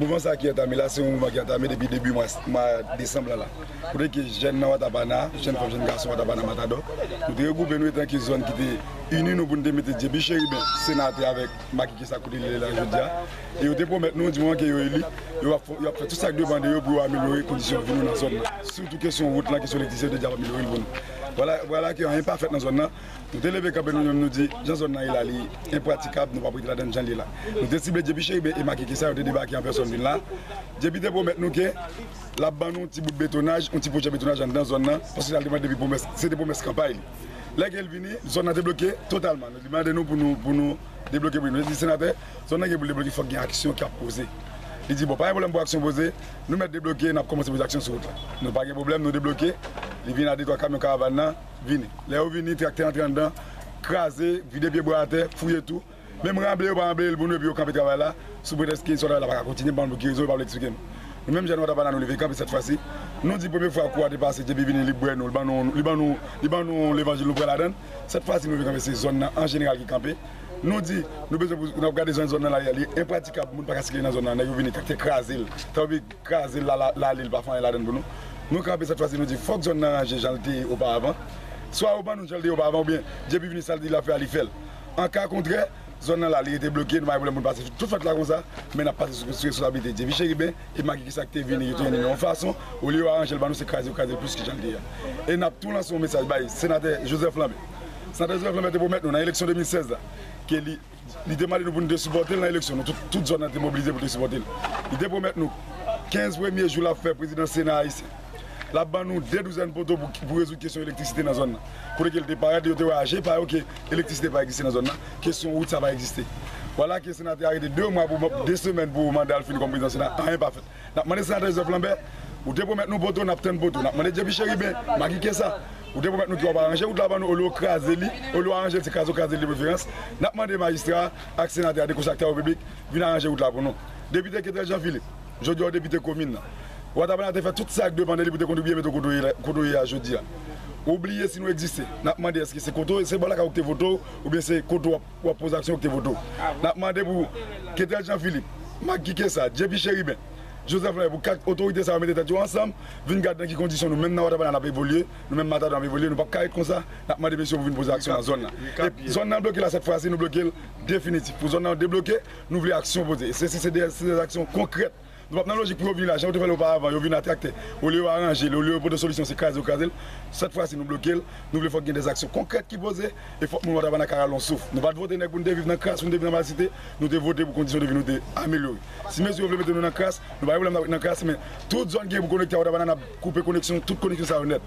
Mouvman sa ki antame la se yon mouvman ki antame depi debi mwa desanm lan la. Kote ke jèn nan Watapana, jèn fanm, jèn gason Watapana Matadò, nou te regwoupe nou etan ke zòn ki te ini nou pou nou te mete dye pi cheriben, senatè avèk Maki ki sa kote li ye la jodi a. E yo te pwomèt nou di moman ke yo eli, yo ap fè tout sa ki depan de yo pou yo amelyore kondisyon vi nou nan zòn nan. Sitou kesyon wout lan, kesyon elektrisite yo te di yap amelyore l pou nou. Vwala, vwala ke anyen pa fèt nan zòn nan. Nou te leve kanpe nou menm nou di jan zòn nan ye la li enpratikab, nou pap rete ladann jan li ye la. Nou te sible JP Cheriben e Maki ki sa yo te debake an pèsòn vin la. JP te pwomèt nou ke lap ban nou yon ti bout betonaj, yon ti pwojè betonaj anndan zòn nan, paske sa li te mande depi pwomès, se te pwomès kanpay li. Lè ke l vini, zòn nan te bloke totalman. Li mande nou pou nou debloke pou li. Nou te di, Senatè, zòn nan gen pou l debloke, fòk gen aksyon ki ap poze. Li di, Bon, pa gen pwoblèm pou aksyon poze. Nou mèt debloke, n ap kòmanse poze aksyon sou wout la. Nou pa gen pwoblèm, nou debloke. Li vini a detwa kamyon karavan nan vini. Lè yo vini, traktè antre anndan, kraze, vide pyebwa atè, fouye tou. Menm ranble yo pa ranble l pou nou epi yo kanpe travay la sou pretèks ke istwa travay la pa ka kontinye, m pa konn pou ki rezon yo pa vle eksplike m. Nou menm jèn Watapana nou leve kanpe sèt fwa si nou di premye fwa kou a te pase JP vini li bwè nou, li ban nou levanjil nou kwè ladan l, sèt fwa si nou leve kanpe se zòn nan an jeneral ki kanpe. Nou di nou bezwen pou nou ap gade jan zòn nan la ye a li enpratikab moun pa ka sikile nan zòn nan nèg yo vini te kraze l ta obi kraze l la ale l pa fè anyen ladan l pou nou. Nou kanpe sèt fwa si nou di fòk zòn nan ranje jan l te ye oparavan swa yo ban nou jan l te ye oparavan oubyen JP vini sa l di l ap fè a li fè l An ka kontrè, zòn nan la li rete bloke, nou pa gen pwoblèm pou nou pase tout fèt la konsa, men n ap pase sou reskonsablite Dyevye Cheriben, e Magi ki sa ki te vini ki tounen li yon fason, olye yo aranje l ban nou se kraze yo kraze l plis ke jan l te ye. E n ap tou lanse yon mesaj bay Senatè Joseph Lambert. Senatè Joseph Lambert te pwomèt nou nan eleksyon 2016 la ke li li te mande nou pou nou te sipòte l nan eleksyon nou tout tout zòn nan te mobilize pou te sipòte l. Li te pwomèt nou 15 premye jou l ap fè prezidan Sena Ayisyen. L ap ban nou 2 douzèn poto pou rezoud kesyon elektrisite nan zòn nan. Kote ke l te parèt, yo te wè a je pa yo ke elektrisite pa egziste nan zòn nan, kesyon wout sa pa egziste. Vwala ke senatè a rete 2 mwa pou, 2 semèn pou manda l fini kòm prezidan sena, anyen pa fèt. N ap mande senatè Joseph Lambert, ou te pwomèt nou poto, n ap tann poto. N ap mande JP Chérubin, Maggie Kessa, ou te pwomèt nou ke w ap aranje wout la ban nou olye w kraze li, olye w aranje l, se kraze w kraze li de preferans. N ap mande majistra a ak senatè a de konsè ak travaux publics vin aranje wout la pou nou. Depite Ketrel Jean Philippe. Jodi a ou depite komin nan. Wa Tabana te fè tout sa k dwe pande li pou te kontribye mete w kote w ye la, kote w ye a jodi a. Ou bliye si nou egziste. N ap mande èske se kote w, se bò lakay ou ki te vote w oubyen se kote w ap, w ap poze aksyon yo ki te vote w. N ap mande pou Ketel Jean Philippe, Mak Kike Sa, JP Chérubin, Joseph Lambert, pou 4 otorite sa yo mete tèt yo ansanm, vin gad nan ki kondisyon nou menm nan Wa Tabana n ap evolye, nou menm Matador n ap evolye, nou p ap ka ret konsa. N ap mande mesye yo pou vin poze aksyon nan zòn nan. E zòn nan bloke la sèt fwa si nou bloke l definitif pou zòn nan debloke. Nou vle aksyon poze. Se si se de se aksyon konkrèt. Nou pap nan lojik pou yo vini la jan yo te fè l oparavan. Yo vini a traktè. Olye yo aranje l, olye yo pote solisyon se kraze yo kraze l. Sèt fwa si nou bloke l. Nou vle fòk gen de aksyon konkrèt ki poze e fòk moun Wantabana ka rale yon souf. Nou pat vote nèg pou n te viv nan kras, pou n te viv nan malsite. Nou te vote pou kondisyon de vi nou te amelyore. Si mesye yo vle mete nou nan kras, nou pa gen pwoblèm nan kras men tout zòn ki gen pou konekte a Wantabana n ap koupe koneksyon tout koneksyon sa yo nèt.